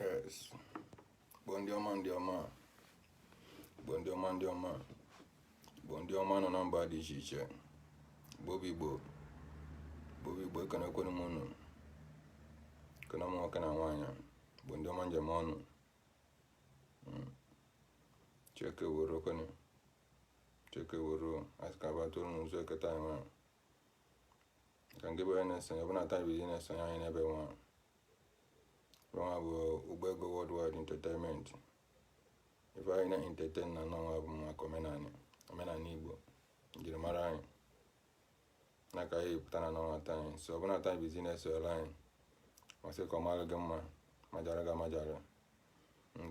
Yes. Igbo ndị ọma ndị ọma. Igbo ndị ọma ndị ọma. Igbo ndị ọma nọ na mba dị iche iche. Igbo bụ Igbo. Igbo bụ Igbo ekenekwanụ m unu. Ekene m nwoke na nwaanyị. Igbo ndị ọma m ji eme ọnụ. Mm. Chi eke weruokwanụ. Chi eke weruo a sị ka a bịa tụọ nzu eke taa nwa. ka gị bụ onye na-eso anyị ọ bụrụ na taa bụ izizi ị na-esonye anyị n'ebe nwa nwa bụ Ugbego worldwide entertainment ife anyị na-entertain na n'ọnwa bụ maka omenanị omenanị igbo njirimara anyị na ka anyị pụta na n'ọnwa taa anyị sị ọ bụrụ na taa bụ izizi ị na-esonyere anyị m asị ka ọ mara gị mma majara gị amajara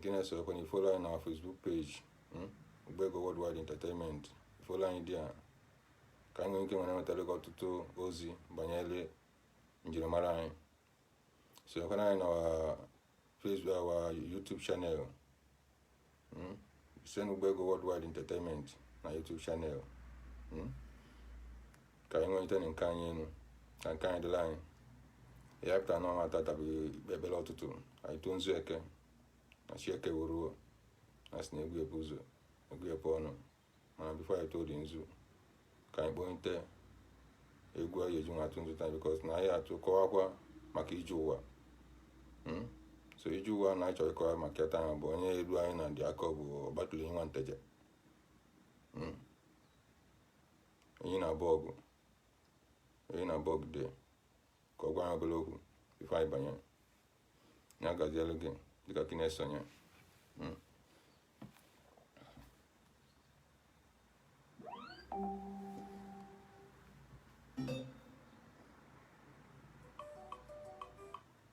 ka ị na-esokwanụ ị follow anyị na our Facebook page hmm, Ugbego Worldwide Entertainment ị follow anyị there ka anyị nwee ike were wetara gị ọtụtụ ozi banyere njirimara anyị sonyekwanụ anyị na Facebook our YouTube channel hmm, same Ugbego Worldwide Entertainment na YouTube channel hmm. ka anyị welite nke anyị elu ka nke anyị dịrị anyị ya pụta na ọnwa tata bụ ikpe ekpere ụtụtụ anyị tụọ nzu eke na chi eke weruo a sị na egwu ebu ụzọ egwu epe ọnụ mana before anyị tụọ the nzu ka anyị kpọnite egwu anyị eji nwa atụ nzu taa because na anyị atụ kọwakwa maka ije ụwa Hmm? so ije ụwa na anyị chọrọ ịkọwa maka ya taa bụ onye elu anyị na ndị akọ bụ Ọgbatụlụenyi nwa Nteje Hmm? onye na-abụ ọgụ onye na-abụ ọgụ dị ka ọ gwa anyị obere okwu before anyị banye ya gazielu gị dịka gị na-eso anyị Mm.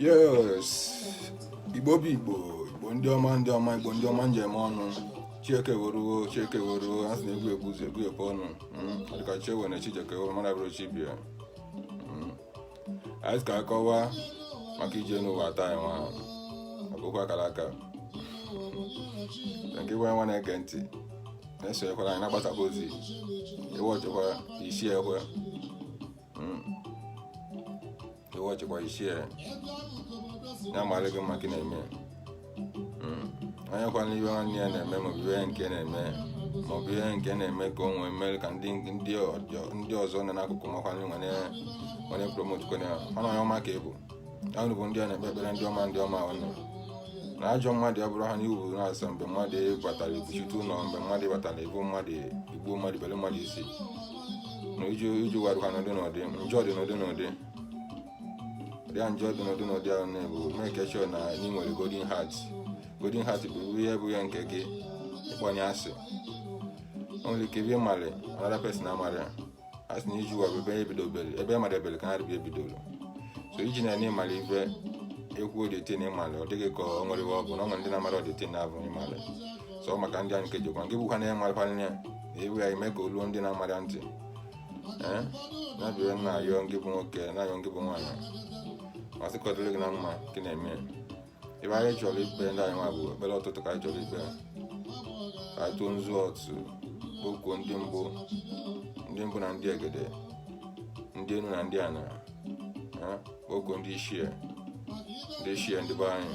yes igbo bụ igbo igbo ndị ọma ndị ọma igbo ndị ọma m ji eme ọnụ chi eke weruo chi eke weruo a sị na egwu ebu ụzọ egwu epe ọnụ hmm, dịka chewe na chijeke weruo mana bụrụ chibia hmm. a sị ka a kọwa maka ije n'ụwa taa nwa a kọkwa akara aka nke gị nwa na-ege ntị na-esonyekwara anyị na-agbasakwa ozi ịwọchịkwa isi ekwe hmm. iwe ọchịkwa isi e ya mara gị mma ka ị na-eme hmm. onye kwana ihe nwanne ya na-eme maọbụ ihe nke na-eme maọbụ ihe nke na-eme ka o nwee mere ka ndị ọzọ nọ n'akụkụ makwanye were promote kwene ọnụ onye ọma ka ị bụ unu bụ ndị a na-ekpe ekpere ndị ọma ndị ọma unu na ajọ mmadụ ya bụrụ ha n'iwu na nsọ mgbe mmadụ batara ibuchite ụlọ mgbe mmadụ batara ibu mmadụ igbu mmadụ bere mmadụ isi iju ụwa dịkwa n'ụdị n'ụdị njọ dị n'ụdị n'ụdị ya njọ dị n'ụdị n'ụdị ahụ na-ebu make sure na ị nwere golden heart golden heart bụ ihe bụ ya nke gị ịkpọ onye asị o nwere ike ebe ịmalị another person amarị asị na iju ụwa bụ ebe ebidobere ebe ịmara ebere ka ha rịbịa ebidoro so iji na ịmara ife ekwu odetin ịmalị ọ dịghị ka o nwere ọ bụ na o nwere ndị na-amara odetin na-abụ ịmalị so maka ndị a nke jikwa nke bụkwa na ya nwarịkwa nne iwu ya eme ka o luo ndị na-amara ntị ee na bịa na-ayọ ngị bụ nwoke na-ayọ ngị bụ nwaanyị m asị ka ọ dịrị gị na mma gị na-eme ebe anyị chọrọ ikpe ndị anyị nwa bụ ekpere ụtụtụ ka anyị chọrọ ikpe ka anyị tụọ nzu ọtụ kpokuo ndị mbụ ndị mbụ na ndị egede ndị enu na ndị ana kpokuo ndị ichie ndị ichie ndị be anyị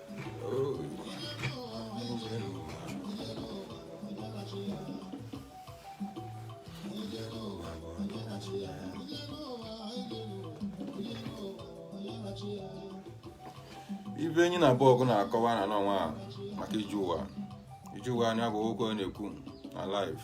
ibe enyi na abụọ ọgụ na-akọwa na n'ọnwa a maka iju ụwa iju ụwa nya bụ okwu ọ na-ekwu na live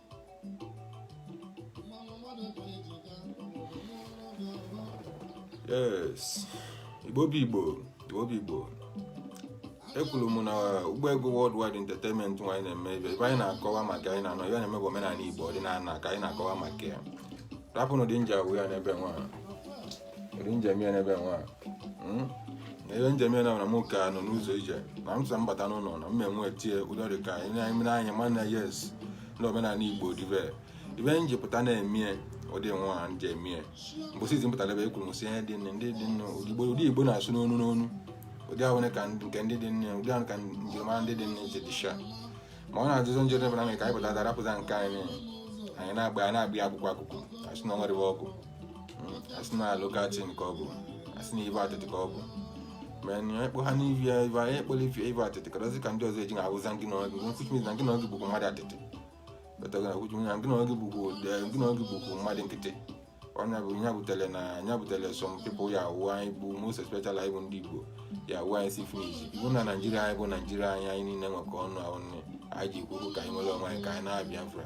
yes igbo bụ igbo igbo bụ igbo ekelee m unu ụgbọ ego worldwide entertainment nwa anyị na-eme ebe ebe anyị na-akọwa maka anyị na-anọ ya na-eme bụ omenala igbo ọdịnala ka anyị na-akọwa maka ya rapụnụ ụdị nja awụ ya n'ebe nwa ụdị m ji eme ya n'ebe nwa hmm? ibe m ji eme ya na m ka nọ n'ụzọ ije na m sị m bata n'ụlọ na m enwe tie ụdọ dị ka anyị na-emere anya ma na yes ndị omenala igbo dị ibe ibe m ji pụta na-emie ụdị nwa ha m ji emie mbọsị izizi m pụtara ebe e kwuru m sị ihe dị nne ndị dị nne ụdị igbo na-asụ n'ọnụ n'ọnụ ụdị ahụ ka nke ndị dị nne ụdị ahụ ka njirimara ndị dị nne ji dịcha ma ọ na-ajụzọ njọ debara m ka anyị pụta darapụta nke anyị anyị na-agba ya na-agba ya akụkụ akụkụ asị na o nwere ibe ọ bụ asị na local thing ka ọ bụ asị na ibe atịtị ka ọ bụ ma na ekpo ha n'ivi ya ive anyị ekpọla ife ive atịtị karazi ka ndị ọzọ eji na awụza ngị na ọgị nkwuchi miz na ngị na ọgị bụkwa mmadụ atịtị betago na kwuchi na ngị na ọgị bụkwa ngị na ọgị bụkwa mmadụ nkịtị ọ nya bụ nya butere na nya butere some people ya awụ anyị bụ most especially anyị bụ ndị igbo ya awụ anyị see finish ibu na naijiria anyị bụ naijiria anyị anyị niile nwekọ ọnụ ahụ nne anyị ji ekwu okwu ka anyị nwere onwe anyị ka anyị naa biafra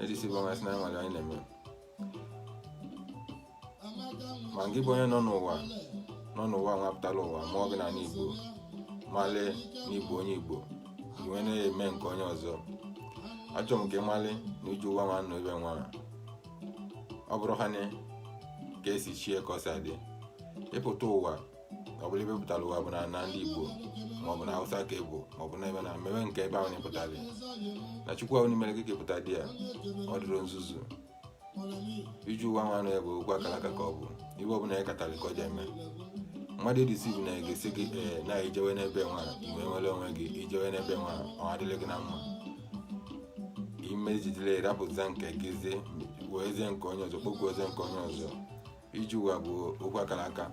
edisi bụ ọnwa si na nwere anyị na-eme ma gị bụ onye nọ n'ụwa nọ n'ụwa nwa pụtala ụwa mụọ gị n'ani igbo mali na ị bụ onye igbo i wee na-eme nke onye ọzọ achọrọ m ka ị mali na iju ụwa nwa nọ ebe nwa ọ bụrọ ha ne ka esi chie ka o si adị ịpụta ụwa ọ bụrụ ebe ị pụtara ụwa bụ na na ndị igbo maọbụ na hausa ka ebo maọbụ na ebe na mmewe nke ebe ahụ na-epụtara ya na chukwu ahụ nụ mere gị ka ị pụta dị ya ọ dịrọ nzuzu ije ụwa nwa anụ ya bụ okwu akara aka ka ọ bụ ife ọbụla ya katara ka ọ ji eme mmadụ e-deceive na-egosi gị ee na i jewe n'ebe nwa ị wee nwere onwe gị i jewe n'ebe nwa ọ dịrị gị na mma ime jidere rapụta nke gị zie werezie nke onye ọzọ kpokwuozie nke onye ọzọ ije ụwa bụ okwu akara aka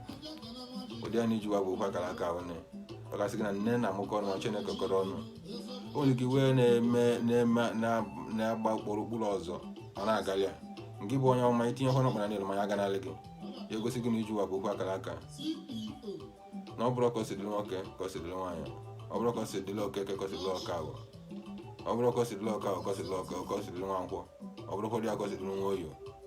ụdị a na ije ụwa bụ okwu akara aka onye ọ ga-asị gị na nne na-amụkọ ọnụ ma chi ekekọrọ ọnụ o nwere ike ị wee na-eme na-eme na- na-agba okporo okpuru ụzọ ọ na-agalị ya ngị bụ onye ọma i tinye ọhụrụ ọkpara n'elu ma ya ganalị gị ya egosi gị na ije ụwa bụ okwu akara aka na ọ bụrọ ka o si dịrị nwoke ka o si dịrị nwaanyị ọ bụrọ ka o si dịrị okeke ka o si dịrị ọkafọ ọ bụrọ ka o si dịrị ọkafọ ka o si dịrị ọka ka o si dịrị nwankwọ ọ bụrọ ka ọ dị ya ka o si dịrị nwoye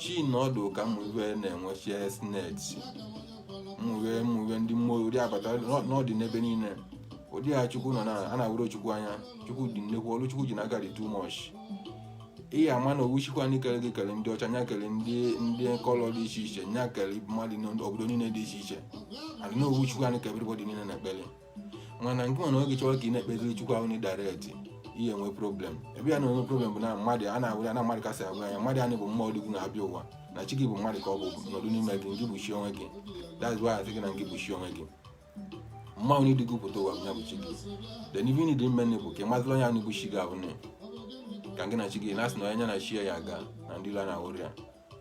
chi nọdụ ka m iwe na-enwe chi sineti mụwe mụwe ndị mmụọ ụdị abata n'ọdị n'ebe niile ụdị ya chukwu nọ na a na-ahụrọ chukwu anya chukwu dị nnekwu ọrụ chukwu ji n'aka dị too much ị ya-ama na ofu chukwu anyị kere gị kere ndị ọcha nya kere ndị ndị colour dị iche iche nya kere mmadụ n'obodo niile dị iche iche adị na ofu chukwu anyị ka everybody niile na-ekpere mana nke nwere oge chọrọ ka ị na-ekpeziri chukwu ahụ na direct ị ya-enwe problem ebe ị ya na-enwe problem bụ na mmadụ a na-awụ ya na mmadụ kasị agwa ya mmadụ anyị bụ mmụọ dịgwu na-abịa ụwa na chi gị bụ mmadụ ka ọ bụ nọdụ n'ime gị ngị bụ chi onwe gị that's why a sị gị na ngị bụ chi onwe gị mmụọ ahụ nụ du gị pụta ụwa bụ ya bụ chi gị then ife dị mme nne bụ ka ị mazịla onye ahụ bụ chi gị ahụ nne ka ngị na chi gị na-asị na onye nya na chi ya yi aga na ndị ilo na-ahụrọ ya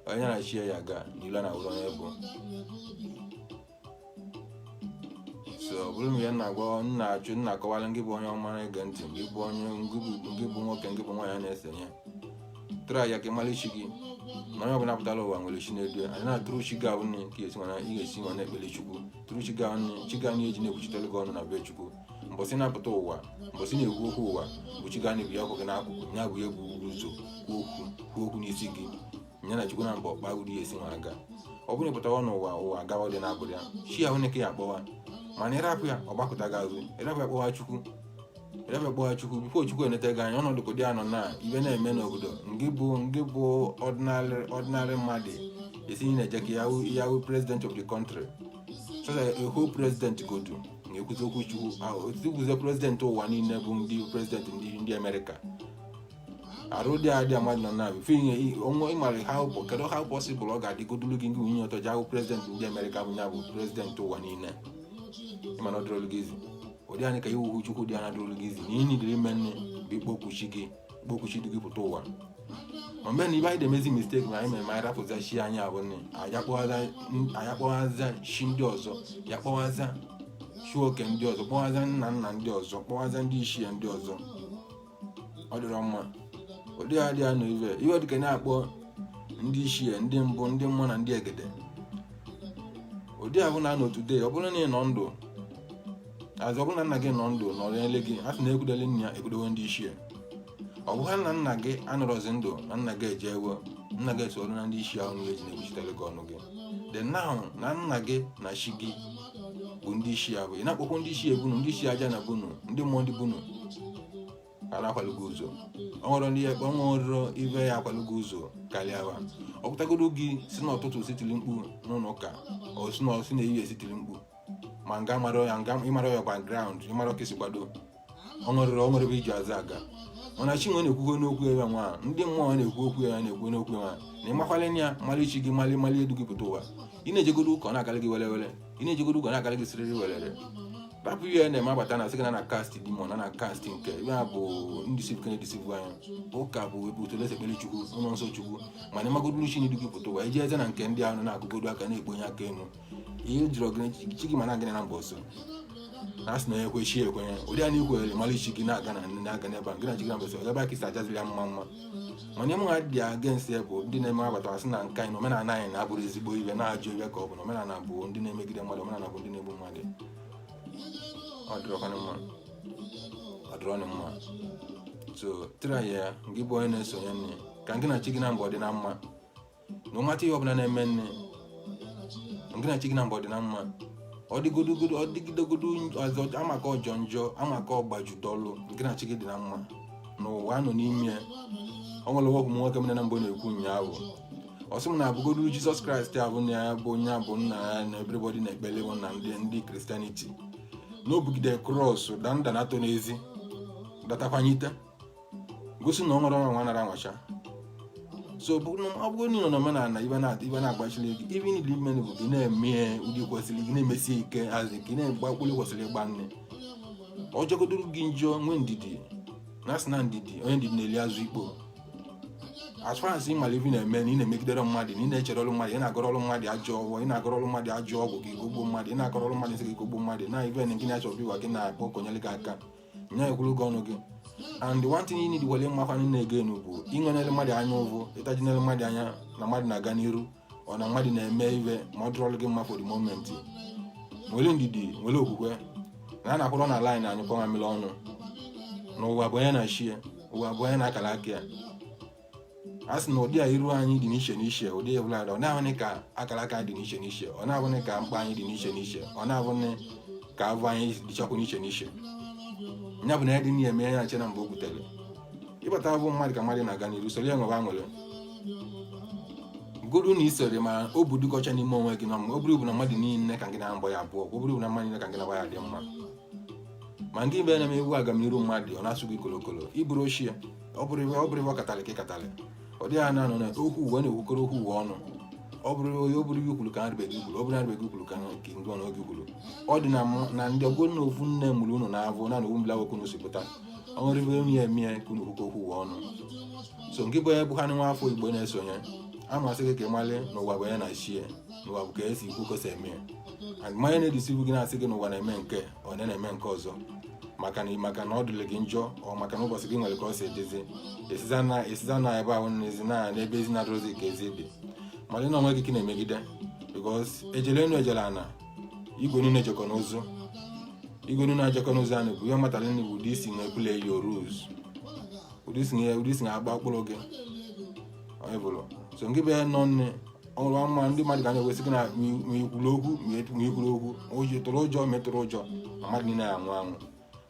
onye na chi ya aga na ilo na-ahụrọ onye ọ bụ so ọ bụrụ mgbe na-agwa na-achọ na-akọwala ngị bụ onye ọma na-ege ntị ngị bụ onye ngị bụ nwoke ngị bụ nwaanyị na-esenye try ya ka ị mara chi gị na onye ọbụla pụtara ụwa nwere chi na-edu ya and na through chi gị ahụ nne ka ị si wee na ị ga-esi wee na-ekpere chukwu through chi gị ahụ nne chi gị ahụ na-eje na-ekwuchitere gị ọnụ na be chukwu mbọsị ị na-apụta ụwa mbọsị ị na-ekwu okwu ụwa bụ chi gị ahụ nụ bụ ya kwụ gị n'akụkụ ya bụ ya bu ụzọ kwuo okwu kwuo okwu n'isi gị nya na chukwu na mbọ kpaa ụwa ya-esi wee gaa ọ bụrụ ị pụtawa n'ụwa ụwa agawa dị n'abụrụ ya chi ahụ nụ ka ị ya-akpọwa mana ịrapụ ya ọ gbakụta gị azụ ịrapụ ya kpọwa chukwu ịrapụ ya kpọwa chukwu before chukwu eneta gị anya ọnọdụ ka ụdị a nọ na ife na-eme n'obodo ngị bụ ngị bụ ordinary ordinary mmadụ ị sị na-eje ka ya hụ- ya hụ president of the country so that a whole president godu na-ekwuzi okwu chukwu otukwuzie president ụwa niile bụ ndị president ndị ndị amerịka arụ dị adị mmadụ nọ na before inye onwe ịmara how po- kedu how possible ọ ga-adịgodulu gị nke nwunye ọtọ je ahụ president ndị amerịka bụ ya bụ president ụwa niile ị ma na ọ dịrọlụ gị easy ụdị ahụ nụ ka ịhụ chukwu dị anya dịrọlụ gị easy na ihe nidere ime nne bụ ikpokwu chi gị kpọku chi du gị pụta ụwa mana ibe anyị na-emezi mistake na anyị mere ma anyị rapụza chi anyị abụ nne anyị akpọwaza chi ndị ọzọ ya kpọwaza chi oke ndị ọzọ kpọwaza nna nna ndị ọzọ kpọwaza ndị ichie ndị ọzọ ọ dịrọ mma ụdị ya dị ya na ive iwe dịka na-akpọ ndị ichie ndị mbụ ndị mmụọ na ndị egede ụdị ahụ na anọ today ọ bụrụ na ị nọ ndụ azụ ọ bụrụ na nna gị nọ ndụ nọrọ ele gị a sị na ekwudewe nna ya ekwudewe ndị ichie ọ bụghị na nna gị anọrọzi ndụ na nna gị ejewe nna gị esoro na ndị ichie ahụ niile ji na-ekwuchitere gị ọnụ gị the now na nna gị na chi gị bụ ndị ichie ya bụ ị na-akpọkwa ndị ichie be unu ndị ichie aja ana be unu ndị mmụọ ndị be unu a na-akwalụ gị ụzọ ọ nwere ndị ya ọnwa ọrụrụ ibe ya akwalụ gị ụzọ karịa wa ọ pụtagodo gị si n'ụtụtụ si tiri mkpu n'ụlọ ụka ọ si na ọ si n'ehihie si tiri mkpu ma nga mara ya nga ịmara ya background ịmara ka esi gbado o nwerọ o nwerọ ebe i ji azụ aga mana chinwe na-ekwugo n'okwu ya nwa ndị mmụọ na-ekwu okwu ya na-ekwu n'okwu ya nwa na ịmakwala ya malị chi gị malị malị edu gị pụta ụwa ị na-ejegodo ụka ọ na-agalị gị werere ị na-ejegodo ụka ọ na-agalị gị siriri werere rapụ ihe a na-eme abata na sị gị na na cast demon na na cast nke ebe a bụ deceive ka a na-edeceive anyị ụka bụ ebe otu olesi ekpere chukwu ụlọ nsọ chukwu mana ịmagodonụ chi na-edu gị pụta ụwa ị jeze na nke ndị ahụ na-akụgodo aka na-ekponye aka enu ihe jiri gị na chi gị ma na ngị naabọ so na a sị na onye kwe chi ekwenye ụdị anyị kwere mara chi gị na-aga na ndị na-aga n'ebe a gị na chi gị naabọ so ebe a ka i si ajaziri ya mma mma mana ive mụwa dị against ya bụ ndị na-eme abata a sị na nke anyị na omenala anyị na abụrọ ezigbo ive na ajọ ive ka ọ bụ na omenala bụ ndị na-emegide mmadụ omenala bụ ndị na-egbu mmadụ ọ dịrọkwanụ mma ọ dịrọnụ mma so try ya gị bụ onye na-esonye nne ka gị na chi gị naabọ dị na mma no matter ihe ọbụla na-eme nne ngị na chi gị naabọ dị na mma ọ dịgodogodo ọ dịgidogodo ọzọ amaka ọ jọọ njọ amaka ọgbaju dọlụ ngị na chi gị dị na mma n'ụwa nọ n'ime ya ọ nwere ovu nwoke mụ na ya naabọ na-ekwu ụnyaahụ ọ sị m na abụgodu jizọs kraịst abụ na ya bụ onye abụ nna ya na everybody na-ekpele bụ na ndị ndị christianity na o bugide cross daa nda naatọ n'ezi datakwanyite gosi na ọ nwere ọnwa nara anwacha so ọ bụrụ na ị nọ n'omenala ive na-agbachiri gị ive niile ime bụ gị na-eme ụdị kwesịrị gị na-emesi ike a sị gị na-egba okpuru kwesịrị ịgba nne ọ jọgodoro gị njọ nwee ndidi na a sị na ndidi onye ndidi na-eli azụ ukpo as far as ị mara ive ị na-eme na ị na-emegiderọ mmadụ na ị na-echerọrọ mmadụ ị na-agwọrọrọ mmadụ ajọ ọgwụ ị na-agwọrọrọ mmadụ ajọ ọgwụ ka ị gwọgbuo mmadụ ị na-agwọrọrọ mmadụ nsị ka ị gwọgbuo mmadụ na ive na gị na-achọ ọbịwa gị na-akpọ ka o nyere gị aka nya ekwuru gị ọnụ gị and the one thing you need wele mmakwa nne ego enu bụ inwenere mmadụ anya ụvụ ịtajinere mmadụ anya na mmadụ na-aga n'iru ọ na mmadụ na-eme ive ma ọ dịrọlụ gị mma for the moment nwere ndidi nwere okwukwe na a na-akwụrụ na line anyị kpọnwa mmiri ọnụ na ụwa bụ onye na chi ya ụwa bụ onye na akara aka ya a sị na ụdị a iru anyị dị n'iche n'iche ụdị ebula ọ na-abụghị ka akara aka dị n'iche n'iche ọ na-abụghị ka mkpa anyị dị n'iche n'iche ọ na-abụghị ka avụ anyị dịchakwa n'iche n'iche nya bụ na ya dị n'ihe eme ya nche na mgbe o butere ịbata abụ mmadụ ka mmadụ na-aga n'iru soro ya nwebe aṅụrị godu na isere ma o bụ dịkọcha n'ime onwe gị na mma ọ bụrụ bụ na mmadụ niile ka gị na-agba ya abụọ ọ bụrụ bụ na mmadụ niile ka gị na-agba ya dị mma ma nke ibe na-eme egwu agamniru mmadụ ọ na-asụ gị kolokolo ịbụrụ ochie ọ bụrọ ive ọ bụrọ ive ọ katalị ka ị katalị ọ dịghị anya nọ na okwu ụwa na-ekwukọrọ okwu ụwa ọnụ ọ bụrọ onye ọ bụrọ ive i kwuru ka ndị be gị kwuru ọ bụrọ ndị be gị kwuru ka nke ndị ọnụ oge kwuru ọ dị na mụ na ndị ọgbọ na ofu nne mụrụ unu na-abụ na na ofu mbila nwoke unu si pụta ọ nwere ive onye eme ya ka unu kwukọ okwu ụwa ọnụ so ngị bụ onye bụ ha nwa afọ igbo na-eso anyị a m asị gị ka ị mali na ụwa bụ onye na chi ya na ụwa bụ ka esi ikwu ka o si eme ya and mmanya na-edisivu gị na-asị gị na ụwa na-eme nke ọ na na-eme nke ọzọ maka na maka na ọ dịrị gị njọ or maka na ụbọchị gị nwere ka ọ si edezi esiza na esiza na ebe ahụ n'ezi na n'ebe ezi na-adịrọzi ka ezi dị mara na onwe gị ka ị na-emegide because ejele enu ejele ana igwe niile jekọ n'ụzụ igwe niile ejekọ n'ụzụ anyị bụ ihe matara nne bụ ụdị i si na-eplay your roles ụdị i si na ụdị i si na-agba mkpụrụ gị onye bụrụ so ngị bụ ya nọ nne ọrụ ọma ndị mmadụ ga na-ewesị gị na ma i kwuru okwu ma i kwuru okwu oji tụrụ ụjọ metụrụ ụjọ mmadụ niile anwụ anwụ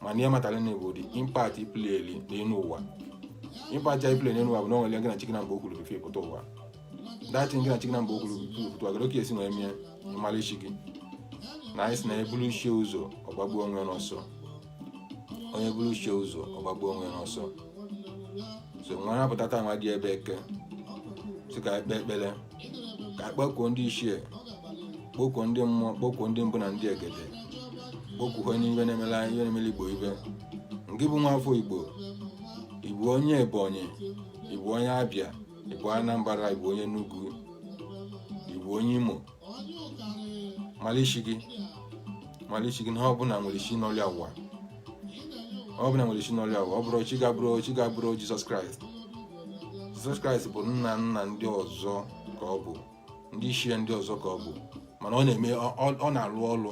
mana ihe matara na bụ ụdị impact i pleli n'elu ụwa impact ya i pleli n'elu ụwa bụ na ọ nwere gị na chi gị naabọ kwuru before ị pụta ụwa that thing gị na chi gị naabọ kwuru before ị pụta ụwa gịrị ka esi wee mie ị mara chi gị na anyị sị na e buru chi ya ụzọ ọ gbagbuo onwe n'ọsọ onye buru chi ya ụzọ ọ gbagbuo onwe ya n'ọsọ so nwanne pụta taa nwa dị ebe eke sị ka e kpe ekpere ka a kpọkuo ndị ichie kpọkuo ndị mmụọ kpọkuo ndị mbụ na ndị egede kpọkuo ihe na-emela ihe na-emela igbo ive ngị bụ nwa afọ igbo ị bụ onye ebonyi ị bụ onye abịa ị bụ anambra ị bụ onye enugu ị bụ onye imo mara chi gị mara chi gị na ọ bụla nwere chi nọlị ya ụwa ọ bụla nwere chi nọlị ya ụwa ọ bụrọ chi gị abụrọ chi gị abụrọ jesus christ jesus christ bụ nna nna ndị ọzọ ka ọ bụ ndị ichie ndị ọzọ ka ọ bụ mana ọ na-eme ọ na-arụ ọrụ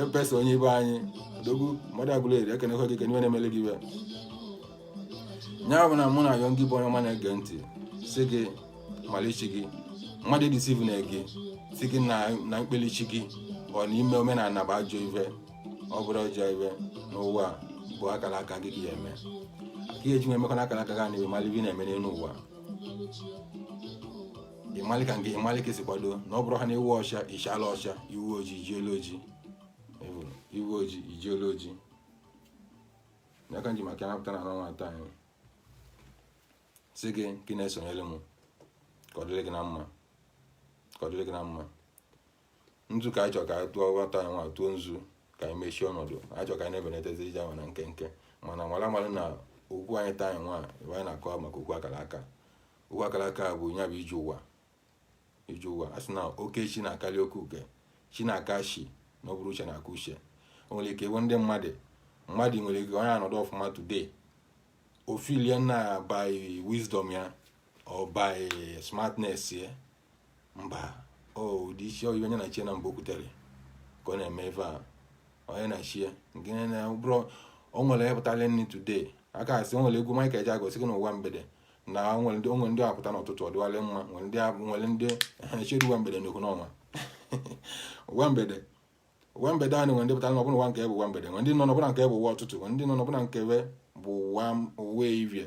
epesa onye be anyị odogwu mmadụ Agụleri ekenekwa gị kene ive na-emele gị ive nya bụ na mụ na-ayọ ngị bụ onye ọma na-ege ntị sị gị mali chi gị mmadụ edeceivena gị sị gị na na ịkpeli chi gị or na ime omenala bụ ajọ ive ọ bụrọ ajọ ive n'ụwa a, bụ akara aka gị ka ị ya-eme ka ihe ji nwe emekọ na akara aka gị na ị mali ive ị na-eme n'elu ụwa ịmalị ka nke ịmalị ka esi kwado na ọ bụrụ ha na ị wụ ọcha ị chala ọcha ị wụ ojii i jielu ojii Ịhụrụ? ị wụ ojii i jielu ojii ya ka m ji maka ya na-apụta na anọ nwa taa anyị sị gị ka ị na-esonyere m ka ọ dịrị gị na mma ka ọ dịrị gị na mma nzu ka anyị chọrọ ka anyị tụọ nwa taa anyị nwa tụọ nzu ka anyị mechie ọnọdụ anyị chọrọ ka anyị na-ebenatazi ive ahụ na nkenke mana mara amara na okwu anyị taa anyị nwa ebe anyị na-akọ maka okwu akara aka ụwa akara aka bụ ya bụ ije ụwa ije ụwa a sị na oke chi na-akarị oke uke chi na-aka chi na ọ bụrọ uche na-aka uche o nwere ike ịbụ ndị mmadụ mmadụ nwere ike onye anọdụ ọfụma today ọ feelie na by wisdom ya or by smartness ya mba ọ ụdị isi onye na chie na mgbe o kwutere ka ọ na-eme ife a onye na chie nke na bụrụ o nwere ịpụtala nri today aka asị o nwere egwu Michael Ejeagha sị gị n'ụwa mgbede na o nwere ndị o nwere ndị apụta n'ụtụtụ ọ dịwalị mma nwere ndị abụ nwere ndị chiri ụwa mgbede n'okwu n'ọnwa ụwa mgbede ụwa mgbede anyị nwere ndị pụtara n'ọbụla ụwa nke bụ ụwa mgbede nwere ndị nọ n'ọbụla nke bụ ụwa ụtụtụ nwere ndị nọ n'ọbụla nke bụ ụwa ụwa evie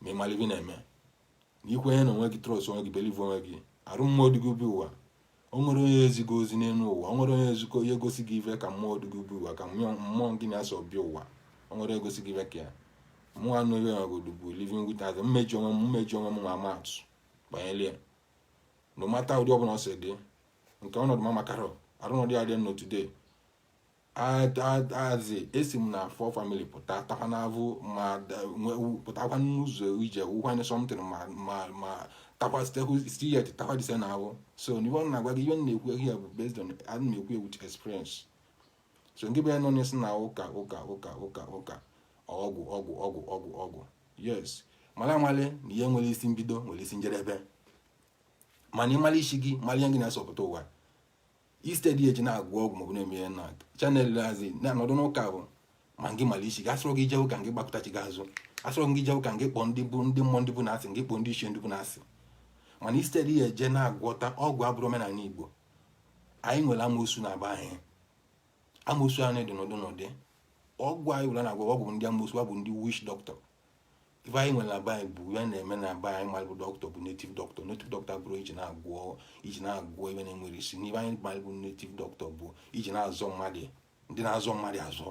ma ị mara ive ị na-eme na i kwenye na onwe gị trust onwe gị believe onwe gị arụ mmụọ du gị bịa ụwa o nwerọ onye ezi gị ozi n'elu ụwa o nwerọ onye ezikọ onye egosi gị ife ka mmụọ du gị bịa ụwa ka mmụọ gị na ya so bịa ụwa o nwerọ onye egosi gị ife ka ya mụ a nọ ebe nwa godu bụ living witness m eji onwe m m eji onwe m nwa ama atụ banyere ya no matter ụdị ọbụla o si dị nke ọnọdụ m amakarọ or ọnọdụ ya dị nọ today as in esi m na a poor family pụta takwa n'avụ ma pụtakwa n'ụzọ ije wụkwanye something ma ma ma takwa still yet takwa dise na ahụ so n'ihe ọ na-agwa gị ihe m na-ekwu ya bụ based on a na m ekwu with experience so ngị bụ onye nọ na-asị na ụka ụka ụka ụka ụka ọgwụ ọgwụ ọgwụ ọgwụ ọgwụ yes mara amali na ihe nwere isi mbido nwere isi njedebe mana ị mara chi gị mara ihe gị na ya so pụta ụwa instead eji na-agwọ ọgwụ maọbụ na-eme ihe na chanel hazi na-anọdụ n'ụka bụ ma ngị mara chi gị asịrọ gị jewe ụka ngị gbakụta chi gị azụ asịrọ gị jewe ụka ngị kpọọ ndị bụ ndị mmụọ ndị be unu asị ngị kpọọ ndị ichie ndị be unu asị mana instead ya eje na-agwọta ọgwụ abụrọ omenala Igbo anyị nwere amoosu na be anyị amoosu anyị dị n'ụdị n'ụdị ọgwụ anyị were na-agwọ ọgwụ ndị amoosu bụ ndị witch doctor ife anyị nwere na be anyị bụ ife na-eme na be anyị malụ bụ doctor bụ native doctor native doctor bụrụ iji na-agwọ iji na-agwọ ife nwere isi n'ife anyị malụ bụ native doctor bụ iji na-azọ mmadụ ndị na-azọ mmadụ azọ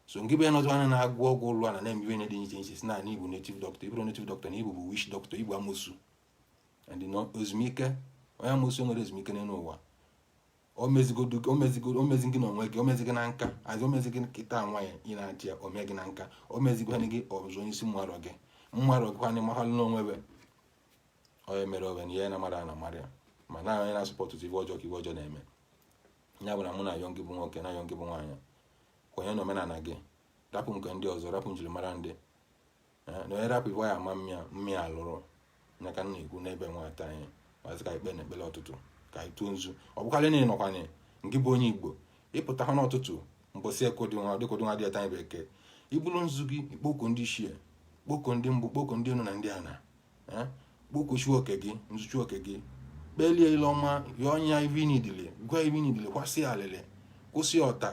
so ngị bụ onye nọzọ anya na-agwọ ọgwụ ụlọ a na na-eme ihe dị iche iche sị na ị bụ native doctor ị bụrọ native doctor na ị bụ bụ witch doctor ị bụ amosu ezumike onye amosu enwerọ ezumike n'enu ụwa omezigodu gị omezigodu omezi gị n'onwe gị omezi gị na nka a sị omezi gị kịta nwa ya ị na-achị ya ome gị na nka omezigwanị gị ọzọ onye sị m marọ gị m marọ gị kwanị mahalụ n'onwe be onye mere onwe na ihe na mara na mara ya ma na onye na-asupport ife ọjọọ ka ife ọjọọ na-eme ya bụ na mụ na-ayọ gị bụ nwoke na-ayọ gị bụ nwaanyị kwenye na omenana gị rapụ nke ndị ọzọ rapụ njirimara ndị na onye rapụ ife e ji ama ya mma ya alụrụ ya ka m na-ekwu n'ebe nwata anyị mazi ka ikpe na ekpele ụtụtụ ka anyị tụọ nzu ọ bụkarị na ịnọkwanye ngị bụ onye igbo ị pụta ha n'ụtụtụ mbọsị ekodinwa dịkodinwa dị ọtanye bekee i bulu nzu gị ị kpọkuo ndị ichie kpọkuo ndị mbụ kpọkuo ndị enu na ndị ana eh? kpọkuo chi oke gị nzu chi oke gị kpelie ile ọma yọọ ya ive nidili gwa ya ive nidili kwasị alịlị kwụsị ọta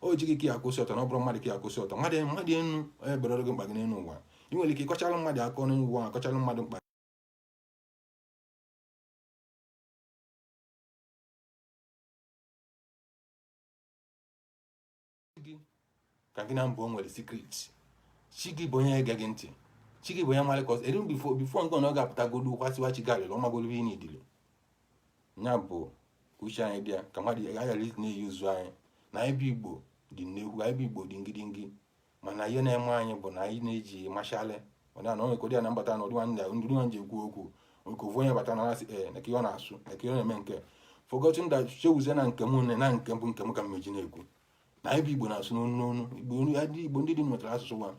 ọ chi gị ka ị ya-akwụsị ọtọ na ọ bụrọ mmadụ ka ị ya-akwụsị ọtọ mmadụ mmadụ enu eberọrọ gị mkpa gị n'enu ụwa ị nwere ike ịkọchara mmadụ akọ n'enu ụwa kọchara mmadụ mkpa ka gị na mbụ o nwere secret chi gị bụ onye ege gị ntị chi gị bụ onye mara ka o si eri before before ngị nwa ga-apụtagodu kwasịwa chi gị alịlị ọ magolu ive nidili ya bụ uche anyị dị ya ka mmadụ aghara isi na-eyi ụzụ anyị na anyị bụ igbo dị nnekwu anyị bụ igbo dị ngidingi mana ihe na-eme anyị bụ na anyị na-eji mashalị mana na onye kodị ya na mbata na ụdị nwanne ndị nwa ji ekwu okwu nke ofu onye bata na asị ee na ihe ọ na-asụ na ihe ọ na-eme nke forgotten that chewuzie na nke m na nke bụ nke m ka m meji na-ekwu na anyị bụ igbo na-asụ n'onu n'onu igbo ndị dị nwetara asụsụ nwa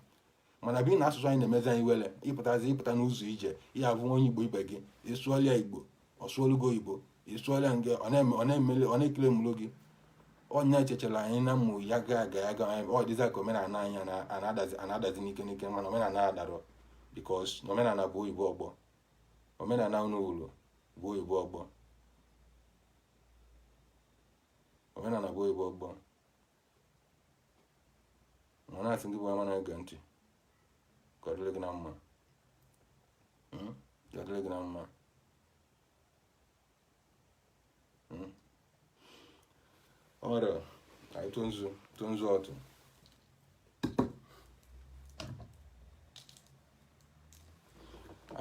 mana bi na asụsụ anyị na-emezi anyị were ịpụtazi ịpụta n'ụzọ ije ya bụ onye igbo ibe gị ị sụọlụ ya igbo ọ sụọlụ gị oyibo ị sụọlụ ya nke ọ na-eme ọ na-emele ọ na-ekele mụrụ gị onye echechara anyị na mmụ ya ga aga ya ga ọ dịzị ka omenana anyị ana- ana-adazi ana-adazi n'ike n'ike mana omenana adarọ because na omenana bụ oyibo ọgbọ omenana unu fụlụ bụ oyibo ọgbọ omenana bụ oyibo ọgbọ ma na-asị ngị bụ ama na-ege ntị ka ọ dịrị gị na mma hmm? ka ọ dịrị gị na mma hmm? ọra anyị tụọ nzu tụọ nzu ọtụ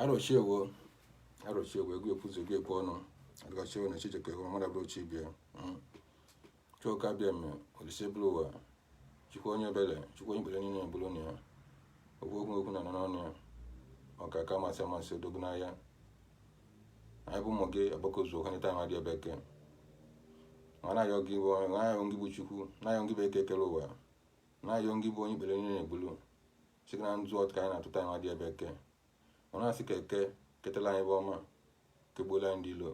arụchiewo arụchiewo egwu ekwuzi egwu ekwu ọnụ arụchiewo na chi jiekwa ewu mmadụ abụrọ chi ibe ya hmm? chukwu oke abịama olisa ebulu ụwa chukwu onye ebere chukwu onye ikpere niile egburu na ya okwu okwu okwu na anọ n'ọnụ ya ọkaka amasịamasị odogwu n'agha anyị bụ ụmụ gị agbakọzukwa nịta amadị bụ eke ma na-ayọ gị bụ onye na-ayọ gị bụ chukwu na-ayọ gị bụ eke kelu ụwa na-ayọ gị bụ onye ikpere niile na-egbulu sị gị na nzu ọtụ ka anyị na-atụ taa amadị bụ eke ọ na-asị ka eke ketela anyị ife ọma kegbuola anyị ndị ilo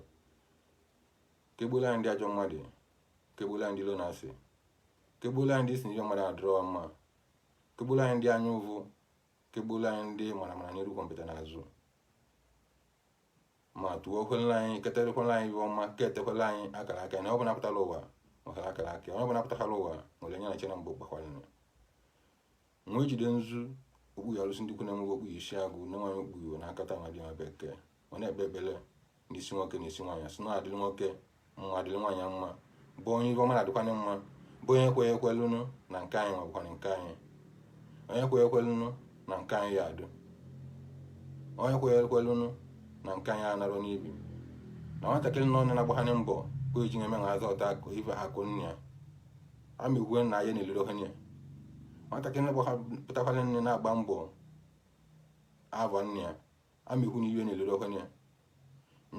kegbuola anyị ndị ajọ mmadụ kegbuola anyị ndị ilo na asị kegbuola anyị ndị si n'ihe mmadụ adịrọ mma kegbuola anyị ndị anya ụvụ kegbuola anyị ndị mara mara n'iru gwompiti n'azụ ma tụọkwala anyị ketekwala anyị ife ọma ketekwala anyị akara aka na ọ bụla pụtara ụwa nwetara akara aka onye ọbụla pụtara ụwa nwere nya na chi nya mgbe gbakwaranụ wee jide nzu okpu ya arụsị ndị kwu na-enweghị okpu isi agụ na nwaanyị okpu iwe na akata amadị bụ eke ọ na-ekpe ekpere n'isi nwoke na n'isi nwaanyị asị na adịrị nwoke mma adịrị nwaanyị mma bụ onye ife ọma na-adịkwanye mma bụ onye kweghị ekwelụnụ na nke anyị nwabụkwana nke anyị onye kweghị ekwelụnụ na nke anyị ya adụ onye kweghị ekwelụnụ na nke anyị anarọ n'ibi na nwatakịrị na onye na-agbaghanye mbọ kwe ji na-eme na aza ọta akụ ife akụ nne ya amịgwe na ya na-elere ohenye nwatakịrị na-apụtakwaranị na-agba mbọ avọ nne ya amịgwu na iwe na-elere ohenye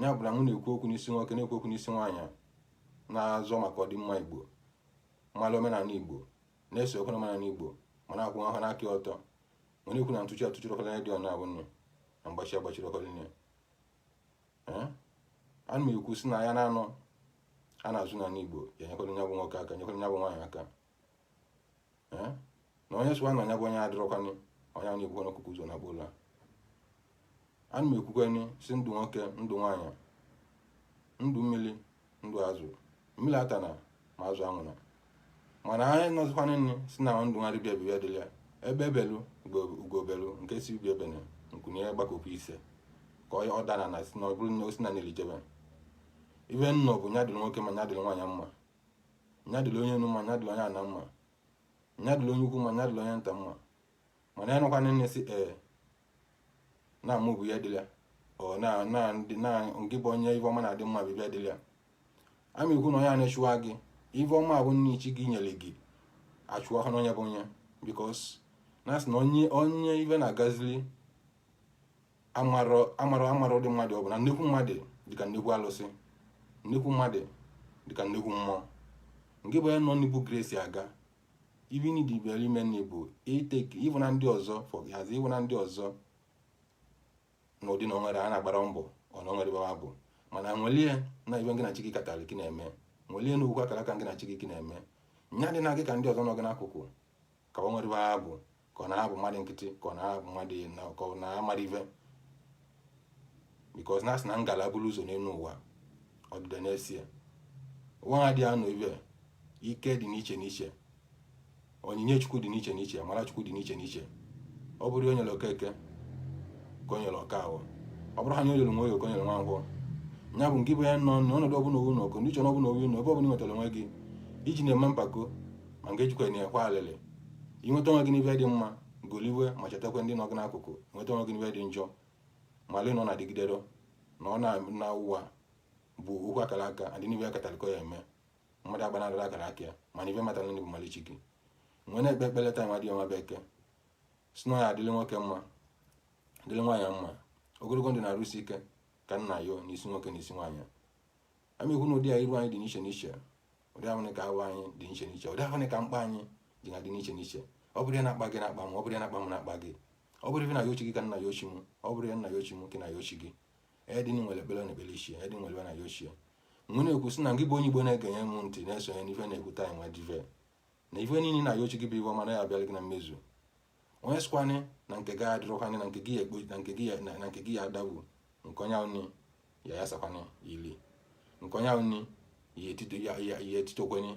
ya bụla m wee na-ekwu okwu n'isi nwoke na-ekwu okwu n'isi nwaanyị na-azọ maka ọdịmma igbo mmalụ omenala igbo na-esokwu omenala igbo ma na-akwụwanụ aka ọtọ ma na-ekwu na ntụchi atụchiri ogoli di ọ na-abụnị na mgbachi agbachiri ogoli nne ana m ekwu sị na ya na-anọ a na-azụ na n'igbo ya nyekwara nya bụ nwoke aka nyekwara nya bụ nwaanyị aka na onye sịwanụ nya bụ nya adịrọkwanị onye anị ebukwanụ ọkụkọ ụzọ nakpuo ụla ana m ekwukwanị sị ndụ nwoke ndụ nwaanyị ndụ mmiri ndụ azụ mmiri atana ma azụ anwụna mana anyị nọzikwana nne sị na ndụ nwa dibịa bibịa dịla ya egbe belu ugo belu nke sị ibe ebena nku nya gbakọkwa isee ka ọ dana na si na ọ bụrụ na osi na nelijebe ife nọ bụ nya dịrị nwoke mma nya dịrị nwaanyị mma nya dịrị onye enu mma nya dịrị onye ana mma nya dịrị onye ukwu mma nya dịrị onye nta mma mana ya nọkwana nne sị ee na mụ bụ ya dịla ọ na nke bụ onye ife ọma na-adị mma bụ ya dịla ana m ekwu na onye a na-achụwa gị ife ọma bụ nke chi gị nyere gị achụwa ha n'onye bụ onye because na-asị na onye ife na-agazili amarọ amarọ ndị mmadụ ọ bụ na nnekwu mmadụ dịka nnekwu alụsị nnekwu mmadụ dịka nnekwu mmụọ nke bụ ya nọ na-ebu grace aga ive na idibe ime nri bụ iteki ịbụ na ndị ọzọ fọghazi ịbụ na ndị ọzọ n'ụdị na onwere a na-agbara mbọ ọ na o nwerọ ive va bụ mana wele ya na ive gị na chi gị katalị ka na-eme wele ya na okwu akara aka gị na chi gị ka na-eme nya dị na gị ka ndị ọzọ nọ gị n'akụkụ ka o nwerọ ive va bụ ka ọ na-abụ mmadụ nkịtị ka ọ na-abụ mmadụ na ka ọ na-amara ife because na a sị na ngala buru ụzọ n'elu ụwa ọdịda na-eso ya ụwa ha dị anụ ive ike dị n'iche n'iche onyinye chukwu dị n'iche n'iche amara chukwu dị n'iche n'iche ọ bụrọ ihe o nyelu okeke ka o nyelu okafọ ọ bụrọ ihe o nyelu nwoye ka o nyelu nwankwọ nya bụ nke bụ ya nọ n'ọnọdụ ọbụla owu n'ọkụ ndị chọrọ ọbụla owu n'ọkụ ebe ọbụla nwetara onwe gị ejina eme mpako ma nke ejikwana akwa alịlị i nweta onwe gị n'ive dị mma goliwe ma chetakwa ndị nọ gị n'akụkụ nweta onwe gị n'ive dị njọ malị na ọ na-adịgidero na ọ na ụwa bụ okwu akara aka a dị n'ive a katalị ka ọ ya-eme mmadụ agbanarịla akara aka ya mana ive matara ndị bụ malị chi gị wee na-ekpe ekpere taa nwa dị ọ nwa bụ eke sị na ya adịrị nwoke mma dịrị nwaanyị mma ogologo ndụ na arụ isi ike ka m na-ayọ n'isi nwoke na isi nwaanyị a ma ekwu na ụdị iru anyị dị n'iche n'iche ụdị ahụ ka ahụ anyị dị n'iche n'iche ụdị ahụ ka mkpa anyị dị na dị n'iche n'iche ọ bụrọ ihe na-akpa gị na-akpa m ọ bụrọ ihe na-akpa m na-akpa gị ọ bụrọ ife ị na-ayọ chi gị ka m na-ayọ chi m ọ bụrọ ihe m na-ayọ chi m ka ị na-ayọ chi gị edin nwere ekpere na-ekpere chi edin nwere na-ayọ chi wee na-ekwu sị na gị bụ onye igbo na-egenye m ntị na-esonye n'ife na-ekwu taanị nwa dive na ife niile ị na-ayọ chi gị bụ ife ọma na ya-abịara gị na mmezu onye sịkwanị na nke gị adịrọkwanị na nke gị ya ekpo na nke gị ya na na nke gị ya adagbu nke onye ahụ nị ya-ayasakwanị ya ili nke onye ahụ nị ya etito ya ya ya etitokwanị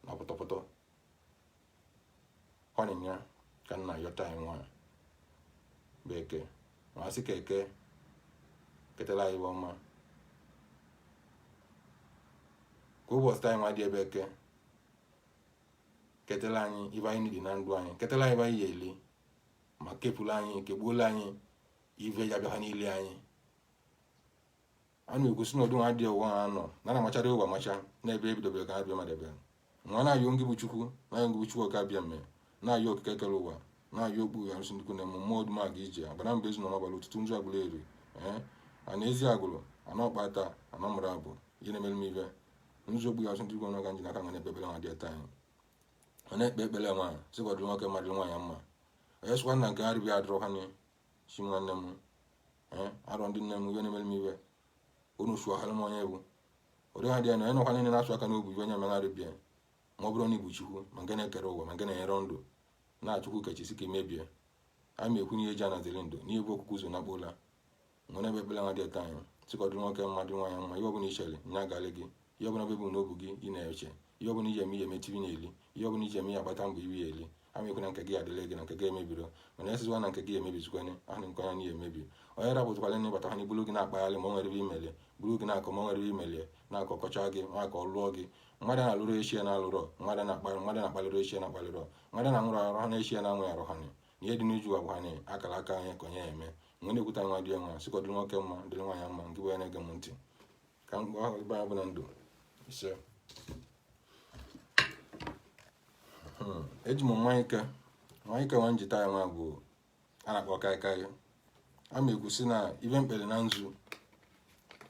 na pụtọpụtọ ọ nya ka m na-ayọ taanị nwa bụ eke ma asị ka eke ketara anyị ive ọma ka ụbọchị taanị nwa dị a bụ eke ketela anyị ive anyị dị na ndụ anyị ketela anyị ive anyị ya-eli ma kepụla anyị kegbuola anyị ive ya bịa ha n'ili anyị a na-egosi na ọdụ nwa adịghị ụwa ha nọ na na-amachara ụwa amacha n'ebe ebidobere ka ha bịa madebe wee na-ayọ ngị bụ chukwu na-ayọ ngị bụ chukwu ọka abịama na-ayọ okike kere ụwa na-ayọ okpuru arụsị ndịkwu na eme mmụọ ọdụm aga ije agbanabọ ezu na ọmabala otutunzu agụleri ee ana eziagụlụ ana ọkpata ana mụrụ m bụ ihe na-emere m ive nzu okpu arụsị ndịkwu nwa ka m ji n'aka wee na-ekpe ekpere nwa dị taanị ọ na-ekpe ekpere nwa sị ka ọ dịrị nwoke mma dịrị nwaanyị mma onye sịkwanị na nke arịbịa adịrọkwanị chi nwanne m ee arọ ndị nne m ive na-emere m ive unu su ọhara m onye bụ ụdị ha dị ya na onye nọkwa niile na-asụ aka n'obu ive onye megharịbịa ma ọ bụrọ na ị bụ chukwu ma nke na-ekere ụwa ma nke na-enyere ndụ na chukwu kechi sị ka e mebie a ma ekwu n'ihe ji anaziri ndụ n'ihe bụ okwukwu zo na kpola nọ n'ebe ebele nwa dị eto anyị sị ka ọ dị nwoke mma dị nwaanyị mma ihe ọbụla i chere nya agalị gị ihe ọbụla bụ n'obu gị ị na-eche ihe ọbụla iji eme ihe emetiri na eli ihe ọbụla iji eme ihe agbata mbọ iwe ya eli a ma ekwu na nke gị adịla gị na nke gị emebiro mana esizikwa na nke gị emebizikwanye ahụ nke onye n'ihe emebi onye rapụtakwala na ịbata ha na ibulu gị na-akpagharị ma o nwere ebe imeli buru gị na-akọ ma o nwere ebe imeli na-akọkọcha gị maka ọ lụọ gị mmadụ na-alụrụ chi ya na-alụrọ mmadụ na-akpalịrị chi ya na-akpalịrọ mmadụ na-anwụrụ arụ ha na chi ya na-anwụ arụ ha na ihe dị n'uju wa bụkwa na akara aka onye ka onye ya eme wee na-ekwuta nwa dị nwa sị ka ọ dịrị nwoke mma dịrị nwaanyị mma nke bụ ya na-ege m ntị ka m gwa ebe anyị bụ na ndụ ise Hmm, eji m mmanya ike mmanya ike nwa njita ya nwa bụ a na-akpọ kaikai a ma ekwu sị na ive m kpere na nzu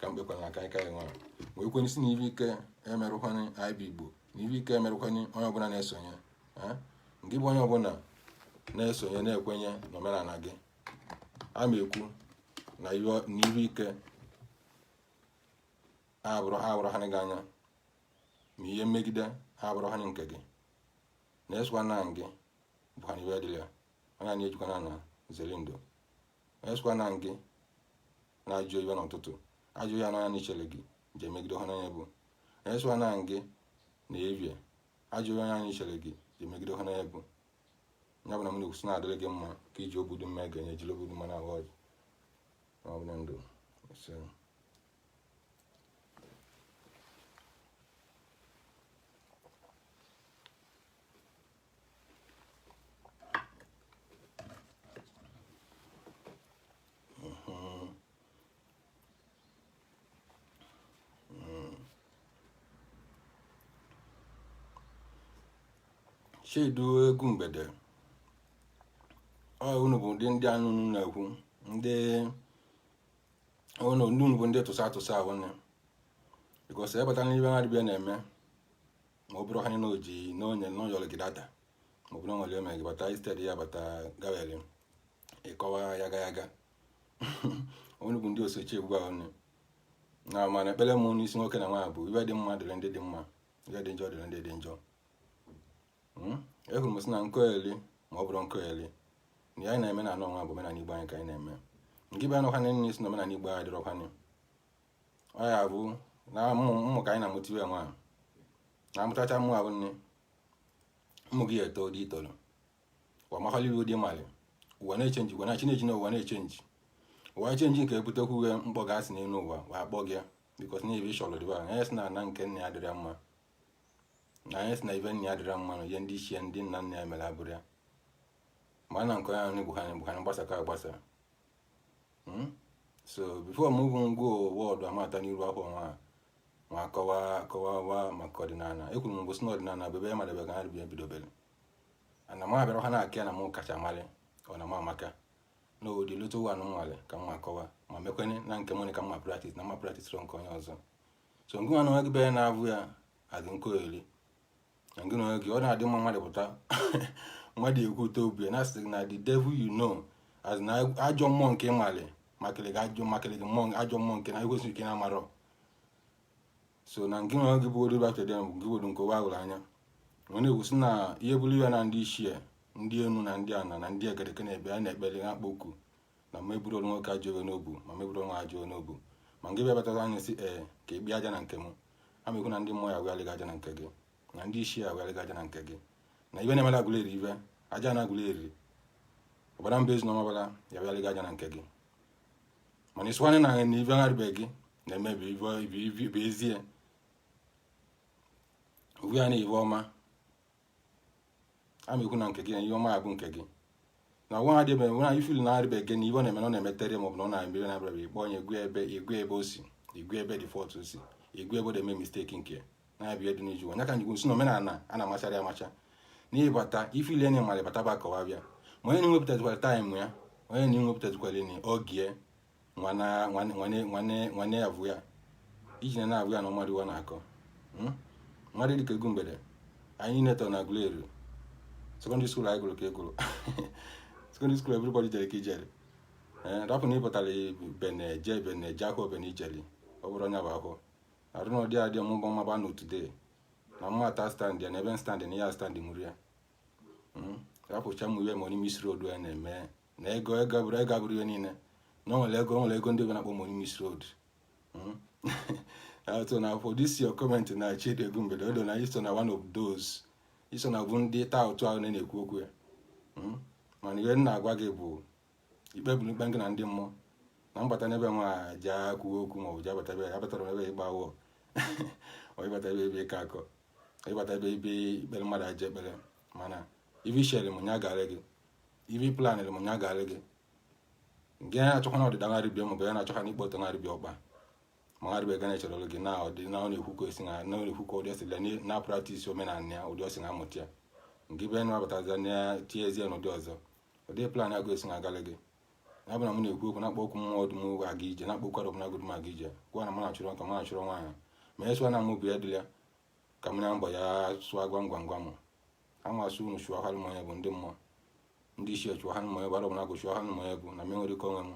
ka m kpekwara na kaikai nwa wee kwenye sị na ive ike emerụkwana anyị bụ Igbo na ive ike emerụkwana onye ọbụla na-esonye nke bụ onye ọbụla na-esonye na-ekwenye n'omenala gị a ma ekwu na ive ike ha abụrụ ha gị anya ma ihe mmegide ha abụrụ ha nke gị na-esokwa na gị bụkwa na ive dịrị ya onye anyị ejikwana na zelindo onye sikwa na gị na-ajụ iwe n'ụtụtụ ajụ ya n'anya n'ichere gị je megide ha n'anya bụ onye sikwa na gị na evie ajụ onye anyị chere gị je megide ha n'anya bụ ya bụ na m na-ekwu sị na-adịrị gị mma ka e ji obodo mma ga-enye ejiri obodo mma na-awa ọjị ma ọ bụ na ndụ Chidu egwu mgbede ọ unu bụ ndị anụ na-ekwu ndị unu ndị unu bụ ndị tụsa tụsa ahụ nne because a bata n'ive ha dịbịa na-eme ma ọ bụrụ ha na oji n'onye n'ụyọrọ gị data ma ọ bụrụ nwere ome gị bata instead ya bata gawere ịkọwa ya ga ya ga unu bụ ndị osochi egwu ahụ nne na mana ekpere m n'isi nwoke na nwaanyị bụ ive dị mma dịrị ndị dị mma ive dị njọ dịrị ndị dị njọ hmm? ehụrụ m sị na nkoeli ma ọ bụrụ nkoeli na ya anyị na-eme na anụ ọnwa bụ omenala Igbo anyị ka anyị na-eme nke bụ anụkwanị nne sị na omenala Igbo anyị dịrọkwanị ọ ya bụ na ụmụaka anyị na-amụtiwe nwa ahụ na amụtacha mmụ ahụ nne ụmụ gị eto dị itoro ụwa mahaliri ụdị mali ụwa na-echenji ụwa na-echenji na ụwa na-echenji ụwa chenji nke ebutekwu uwe mkpọ gasị n'elu ụwa wa akpọ gị ya because na ebe ị chọrọ dịba anyị sị na ana nke nna ya dịrị mma na anyị sị na ive nna ya dịrị mma na ihe ndị ichie ndị nna nna ya mere abụrụ ya ma na nke onye ahụ bụ ha na gbasakọ agbasa hmm? so before m bụ ngwa wọdụ amata n'iru afọ nwa ma kọwa kọwawa maka ọdịnala ekwuru m gosi na ọdịnala bụ ebe madebe ka ha bi ebidobere ana m abịara ha na-akị na m kacha mali ọ na m amaka na ụdị lụta ụwa anụnwale ka m akọwa ma mekwenye na nke m ka mma praktis na mma praktis nke onye ọzọ so ngịnwa na onwe gị bere na-abụ ya adị nkọ eri gị na onwe gị ọ na-adị mma mmadụ pụta mmadụ ekwute obi na asị na the devil you know asị na ajọ mmụọ nke ị malị makịrị gị ajọ makịrị gị mmụọ ajọ mmụọ nke na ekwesịrị ike na-amarọ so na nke na gị bụ oriba kedem gị were nke ụwa hụrụ anya ọ na-ekwusi na ihe bụrụ ya na ndị ichie ndị enu na ndị ana na ndị egereke na-ebe a na-ekpere na-akpọku na m eburọrụ nwoke ajọ ive n'obu ma m eburọ ọnwa ajọ ive n'obu ma ngị bịa batara anya si ee ka ị bịa aja na nke m amekwu na ndị mmụọ ya wegharịga aja na nke gị na ndị ichie ya wegharịga aja na nke gị na ibe na-emela Aguleri ive Ajana Aguleri ọbara mba Ezu na Ọmabala ya wegharịga aja na nke gị mana ịsụwanye na na ibe gharịbeghị gị na-emebi ibe ezie uwe ya na ive ọma amekwu na nke gị na ihe ọma abụ nke gị na ọgwa ha dị ebe nwe na field na arịba ege na ibe ọ na-eme na ọ na-emetere maọbụ na ọ na-emere na abịara ikpe onye egwu ebe egwu ebe o si egwu ebe dị fọt o si egwu ebe ọ na-eme misteki nke na-abịa edu n'iju onye ka m ji kwu sị na omenala a na-amachara ya amacha n'ịbata field enye mara bata ba kọwa bịa ma onye na-enwepụtazikwara taịm ya onye na-enwepụtazikwara nị oge ya nwanne ya bụ ya iji na na-abụ ya na mmadụ iwa na-akọ hmm? mmadụ dịka Egumbede anyị netọ na Aguleri sekọndịrị skuul anyị gụrụ ka egụrụ sekọndịrị skuul everybody jere ka ijere eh, rapụ na ịpụtara bene je bene je akwụkwọ bene ijere ọ bụrụ onye bụ akwụkwọ arụ na ọdị adị ọmụgbọ mmaba na today na mma ata stand ya na ebe stand na ya stand mụrụ ya hmm? rapụcha mụ iwe money miss road ya na-eme na ego ego bụrụ ego abụrụ ihe niile na o nwere ego o nwere ego ndị be na-akpọ money miss road hmm? so na for this your comment na Chidi Egumbede o na i so na one of those i so na bụ ndị taa ụtụ ahụ na-ekwu okwu ya hmm? mana ihe m na-agwa gị bụ i kpeburu ikpe gị na ndị mmụọ na mbata n'ebe nwa ja kwuo okwu maọbụ ji abata ebe abatara m ebe ịgba ava ọ ịbata ebe ebe ịka akọ ịbata ebe ebe ikpere mmadụ ajọ ekpere mana ive i chere m nya garị gị ive ị planịrị m nya garị gị nke ya na-achọkwa na ọdịda ngarị bịa maọbụ ya na-achọkwa na ịkwụ ọtọ ngarị bịa ọkpa ma ngarị bịa ga na-echere olu gị na ọdị na ọ na-ekwu ka esi na na ọ na-ekwu ka ụdị o si na-apraktis omenala ya ụdị o si na-amụta ya nke ibe na-abataza na tie ezie n'ụdị ọzọ ụdị plan gị esi na agalị gị ya bụ na m na-ekwu okwu na-akpọku mmụọ ọdụm oge aga ije na-akpọku ọdụm agụdụm aga ije gwa na m na-achụrụ nka m na-achụrụ nwaanyị ma esụọ na m obi ya dịla ka m na mgbọ ya sụọ gwam gwam gwam amasị unu chụọ ha mmanya bụ ndị mmụọ ndị ichie chụọ ha mmanya bụ Arọbụnagụ chụọ ha mmanya bụ na m enwere ike onwe m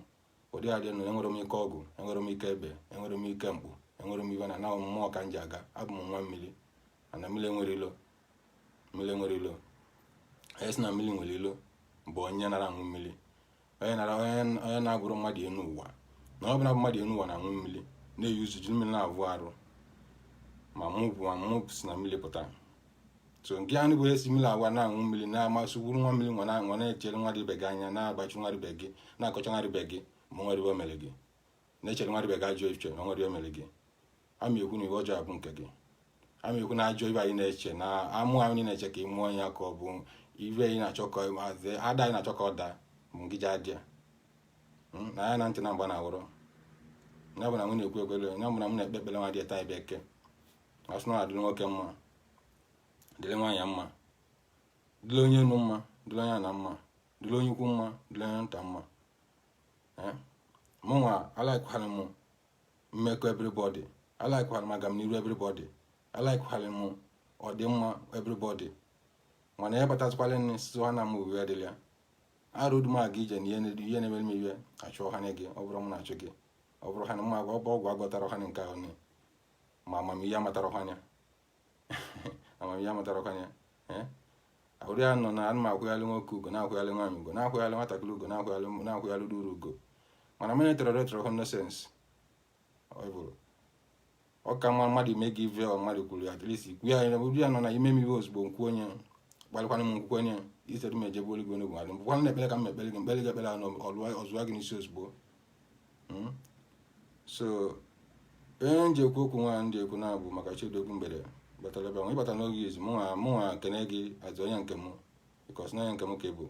ụdị adị na enwere m ike ọgụ enwere m ike ebe enwere m ike mkpu enwere m ive na na mmụọ ka m ji aga abụ m nwa mmiri and mmiri enwerọ ilo mmiri enwerọ ilo onye sị na mmiri nwere ilo bụ onye nara aṅụ mmiri onye onye na-abụrọ mmadụ enu ụwa na ọ bụla mmadụ enu ụwa na-aṅụ mmiri na-eyi uzu ji mmiri na-avụ arụ ma mụ bụ ma mụ si na mmiri pụta so nke anụ bụ esi mmiri agwa na-aṅụ mmiri na-asị gburu nwa mmiri nwa na-echere mmadụ ibe gị anya na-agbachi mmadụ ibe gị na-akọcha mmadụ ibe gị ma o nwerọ ive o mere gị na-echere mmadụ ibe gị ajọ echiche na o nwerọ ive o mere gị ama ekwu na ive ọjọọ abụ nke gị ama ekwu na ajọ ive anyị na-eche na amụ anyị na-eche ka ị mụọ ya ka ọ bụ ive anyị na-achọ ka maazị ada anyị na-achọ ka ọ daa bụ ngị ji adị ya hmm, n'anya na ntị na mgba na awụrụ ya bụ na m na-ekwu ekwere ya bụ na m na-ekpe ekpere nwa dị taa bụ eke asị na ọ dịrị nwoke mma dịrị nwaanyị mma dịrị onye enu mma dịrị onye ana mma dịrị onye ukwu mma dịrị onye nta mma eh? mụnwa alaikwara m mmekọ everybody alaikwara m agamniru everybody alaikwara m ọdịmma everybody mana ya batazikwala nne sizi ha na m uwe adịla ya arụdu m aga ije na ihe na-emere m ive achụ ha nye gị ọ bụrọ m na-achụ gị ọ bụrụ ha na mma agwa ọgwụ agwọtara ha nke ahụ ma amamihe amatara ha anya amamihe amụtarakwa ya eh? ahụrụ ya nọ na ana m akwụghalị nwoke ugwu na-akwụghalị nwaanyị ugwu na-akwụghalị nwatakịrị ugwu na-akwụghalị na-akwụghalị ndị ruru ugwu mana m atoleraterọ nonsense ọ ka mma mmadụ ime gị ive mmadụ kwuru ya at least ikwu ya ụdị ya nọ na i mee m ive ozugbo m kwuo onye gbalịkwana m nkwukwu onye itere m ejebe oligwe n'ogbe adị mbụkwana na-ekpere ka m ekpere gị m kpere gị ekpere ọ zụwa gị n'isi ozugbo hmm? so onye m ji ekwu okwu nwa ndị ekwu na-abụ maka Chidogu Mgbede batara ebe nwa ịbata n'oge izu mụnwa mụnwa kene gị azụ onye nke m because na onye nke m ka ị bụ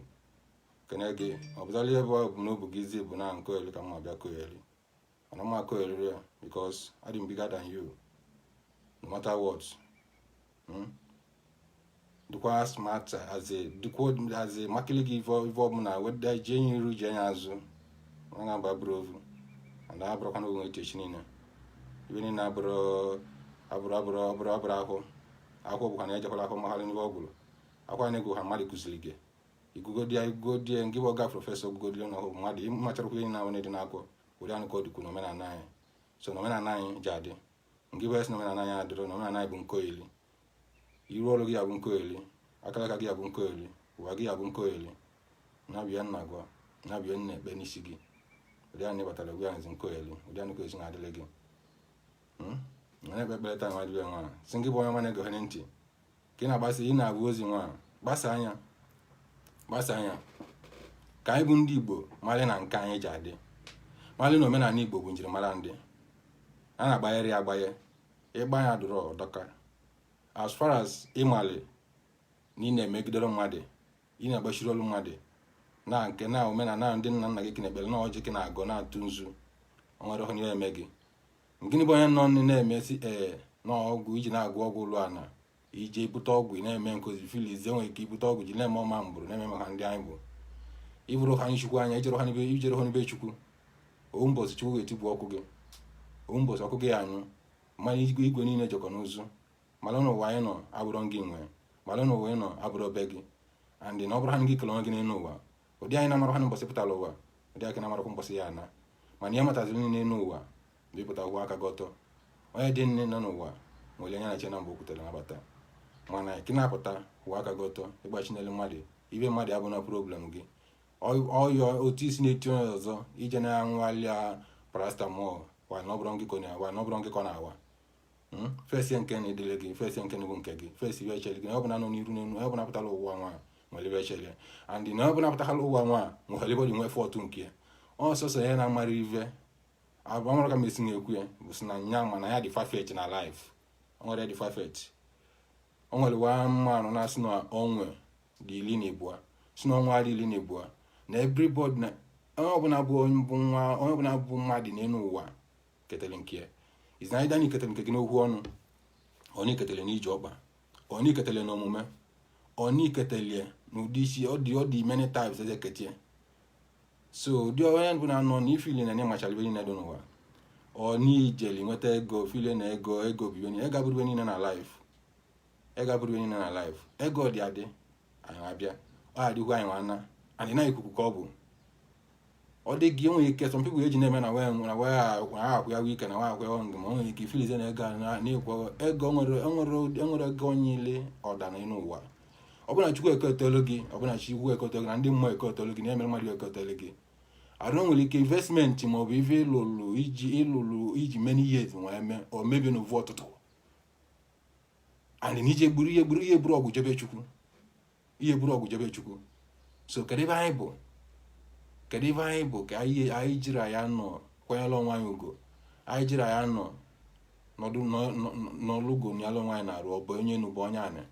kene gị ọ bụtara ihe bụ bụ n'obu gị izi bụ na nkoeli ka mma bịa koeli mana m ma koeliri ya because adị m bigger than you no matter what hmm? dịkwa smart as in dịkwa as in makili gị ive ọbụla whether ji enyi iru ji anya azụ ga-aba bụrụ ovu na abụrụkwana onwe echechi niile ive niile abụrụ abụrụ abụrụ abụrụ abụrụ ahụ ahụ bụkwa na ejekwala ahụ magharị n'ihe ọ gwụrụ akwa na-egwu ha mmadụ kuziri gị ị gụgodie ị gụgodie ngị bụ ọga professor gụgodie na ọhụụ mmadụ ịmachara ihe na-ahụ na-ede n'akwụkwọ ụdị anụ ka ọ dịkwu n'omenala anyị so n'omenala anyị ji adị ngị bụ esi na omenala anyị adịrọ na omenala anyị bụ nkoeli iru ọrụ gị ya bụ nkoeli akalaka gị ya bụ nkoeli ụwa gị ya bụ nkoeli n'ive a m na-agwa n'ive a m na-ekpe n'isi gị ụdị anụ batara gwa anyị nkoeli ụdị anụ ka esi na-adịrị gị na-ekpe ekpere taa nwa dịbe nwa sị ngị bụ onye ọma na-egere ntị ka ị na-agbasa ya bụ ozi nwa gbasaa ya gbasaa ya ka anyị bụ ndị igbo malị na nke anyị ji adị malị na omenanị igbo bụ njirimara ndị a na-agbanyere ya agbanye ịgba ya dụrụ ọ dọka as far as ị malị na ị na-emegiderọ mmadụ ị na-agbachirọ olu mmadụ na nke na omenala ndị nna nna gị ka ị na-ekpere na ọjị ka ị na-agọ na-atụ nzu o nwerọ ihe ya-eme gị gịnị bụ onye nọ nne na-emesi ee na ọgwụ i ji na-agwọ ọgwụ ụlọ ana i je bute ọgwụ na-eme because ị feel i nwere ike ibute ọgwụ ji na-eme ọma mbụrụ na-eme maka ndị anyị bụ ị bụrọ ha anyị chukwu anya i jerọ ha na be i jerọ ha na be chukwu ọ wụ mbọsị chukwu ga-etigbu ọkụ gị ọ wụ mbọsị ọkụ gị ya-anyụ mana igwe igwe niile jekọ n'ụzọ malị na ụwa anyị nọ abụrọ gị nwe malị na ụwa anyị nọ abụrọ be gị and na ọ bụrọ ha gị kele onwe gị n'elu ụwa ụdị ị na-amarọ ha nụ mbọsị ị pụtara ụwa ụdị a ka ị na-amarọkwa mbọsị ị ya-ana mana ihe mataziri niile n'ụwa bụ ị pụta ụwa aka gị ọtọ onye dị nne nọ n'ụwa nwere anya na-eche na mgbe o kwutere nabata mana ka ị na-apụta ụwa aka gị ọtọ ị gbachina olu mmadụ ibe mmadụ abụna problem gị ọyọ otu isi na-eti onye ọzọ i je na-aṅụlị ya paracetamol wa na ọ bụrọ ngị ka ọ na-awa na ọ bụrọ ngị ka ọ na-awa hmm? face nke nụ dịlị gị face nke bụ nke gị face ive chere gị na ọbụla nọ n'iru n'elu ọbụla pụtara ụwa nwa nwere ive chere and na ọbụla pụtara ụwa nwa nwere ive dị nwe fọtụ nke ya ọsọsọ ya na-amara ive abụ ọmụrụ ka m esi na-ekwu ya bụ si na nya ma na ya dị perfect na life o nwerọ onye dị perfect o nwere wa mmanụ na-asị na ọnwa dị iri na ibua sị na ọnwa dị iri na ibua na everybody na onye ọbụla bụ onye ọbụla bụ mmadụ n'elu ụwa ketele nke ya is either na i ketele nke gị n'okwu ọnụ or na i ketele n'ije ọkpa or na i ketele n'omume or na i ketele n'ụdị isi ọ dị ọ dị many types e si ekete ya so ụdị onye ọbụna nọ na-efeel na nya machara ive niile dị n'ụwa or na i jeli nweta ego feel na ego ego bụ ive niile ego abụrọ ive niile na life ego abụrọ ive niile na life ego dị adị anyị abịa ọ dịlị anyị nwa ana and na ikuku ka ọ bụ ọ dị gị enweghị ike some people eji na-eme na wee nwere wee ahụ ya ike na wee ahụ ya ọngụ ma nwere ike ị feelzie na ego na-ekwu ego enwere ego niile ọdana n'ụwa ọbụna chukwu ekotelu gị ọbụna chukwu ekotelu gị na ndị mmụọ ekotelu gị na-emere mmadụ ekotelu gị arụ nwere ike investment maọbụ ive ị lụlụ i ji ị lụlụ i ji many years wee mee o mebie n'ovu ụtụtụ and na i je gburu gburu ị ya-eburọ ọgwụ je be chukwu ị ya-eburọ ọgwụ je be chukwu so kedu ive anyị bụ kedu ive anyị bụ ka anyị anyị jiri ya nọ kwanyela onwe anyị ugo anyị jiri ya nọ nọdụ n'ọlụgo nyala onwe anyị n'arụ ọ bụ onye nu bụ onye anị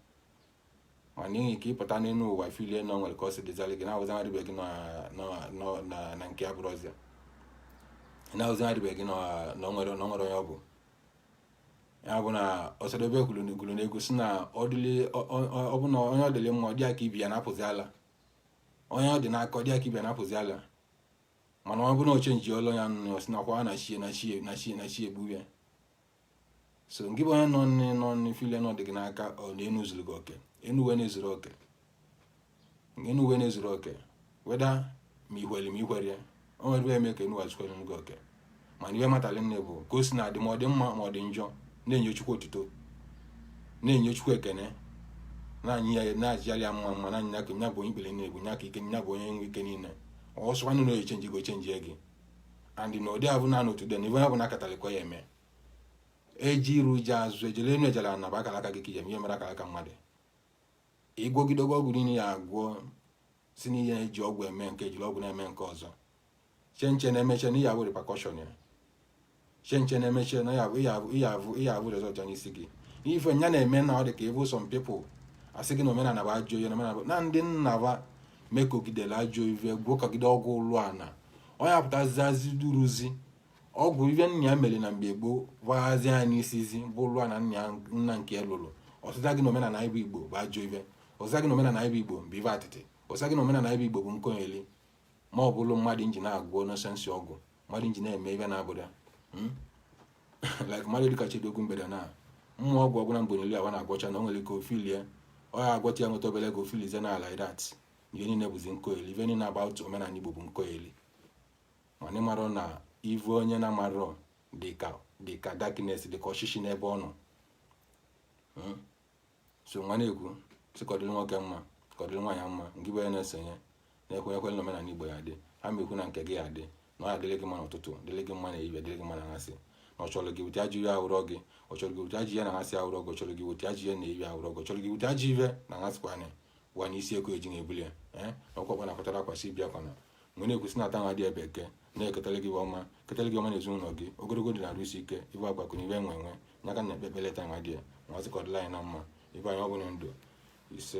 ma n'ihi ka ị pụta n'elu ụwa feel na o nwere ka ọ si dịzali gị na-ahụzi mmadụ ibe gị na nke a abụrọzi ya ị na-ahụzi mmadụ ibe gị na o nwerọ onye ọ bụ ya bụ na Osadebe kwuru n'egwu si na ọ bụ na onye ọ dịrị mma ọ dị ya ka ibe ya na-apụzi ala onye ọ dị n'aka ọ dị ya ka ibe ya na-apụzi ala mana ọ bụrụ na ọ chenjielụ ya ọ sị nakwa na chi ya egbu ya so ngị bụ onye na-e na-e feel na ọ dị gị n'aka ọ na enu zuru gị oke enu ụwa na-ezuru oke enu ụwa na-ezuru oke whether ma i kwere ma i kwerọ ya o nwere ive eme ka enu ụwa zukwere gị oke mana ihe matali nne bụ ka o si na-adị ma ọ dị mma ma ọ dị njọ na-enye chukwu otuto na-enye chukwu ekene na-anyị ya na-ajịali ya mma mma na anya ka nya bụ onye ikpere na-egbu nya ka ike nya bụ onye nwe ike niile ọsọ nwanne na ọ ya-echenji ọ chenjie gị and na ụdị abụ na n'otu dị na ibe ya bụ na akatalịkwa ya eme eje iru eje azụ ejele enu ejele ana bụ akara aka gị ka ije ihe mere akara aka mmadụ ị gwọgidego ọgwụ niile ya agwọ si n'ihe ya eji ọgwụ eme nke jiri ọgwụ na-eme nke ọzọ che nche na emechaa na ị ya-ebu repercussion ya che nche na emechaa na ị ya-ebu result ya n'isi gị ife nya na-eme na ọ dị ka ị vụ some people asị gị na omenala bụ ajọ ihe na ndị nna ba mekogidere ajọ ife gwọkọgide ọgwụ ụlụ ana ọ ya-apụtazizi duruzi ọgwụ ive nna ya mere na mgbe gboo gbaghazi ya n'isizi bụ ụlụ ana nna nke ya lụrụ ọ sịzie gị na omenala Igbo bụ ajọ ive ọ sịzie gị na omenala Igbo bụ ive atịtị ọ sịzie gị na omenala Igbo bụ nkọyeli ma ọ bụrụ mmadụ nji na-agwọ nonsense ọgwụ mmadụ nji na-eme ive na-abụda hmm? like mmadụ dịka Chidogu mgbede na mmụọ ọgwụ ọgwụ na mgbonyeli awa na-agwọcha na o nwere ike ofilie ọ ya agwọta ya nweta obele ego ofilize na ala idat ihe niile bụzi nkọyeli ife niile about omenala Igbo bụ nkọyeli mana ị marọ na ive onye na-amarọ dịka dịka darkness dịka ọchịchị n'ebe ọ nọ hmm? so nwa na-ekwu si ka ọ dịrị nwoke mma ka ọ dịrị nwaanyị mma ngị bụ onye na-esonye na-ekwenyekwere na omenala Igbo ya dị ha ma ekwu na nke gị ya dị na ọ ya dịrị gị mma n'ụtụtụ dịrị gị mma na ehihie dịrị gị mma na anyasị na ọ chọrọ gị with ajọ ive ahụrọ gị ọ chọrọ gị with ajọ ive na anyasị ahụrọ gị ọ chọrọ gị with ajọ ive na ehihie ahụrọ gị ọ chọrọ gị with ajọ ive na aghasịkwa anya gwa na isi eko eji na-ebuli ya ee na ọkwakwa na akpatara akwasị bịakwana m wee na-ekwusi na taa nwa dị ya bụ Eke na-eketara gị ọma ketara gị ọma na ezinụlọ gị ogologo ndụ na arụ isi ike ive akụakụ na ive enwe enwe ya ka na-ekpe ekpere taa nwa dị ya m wee sị ka ọ dịrị anyị na mma ive anyị yọ bụ ndụ ise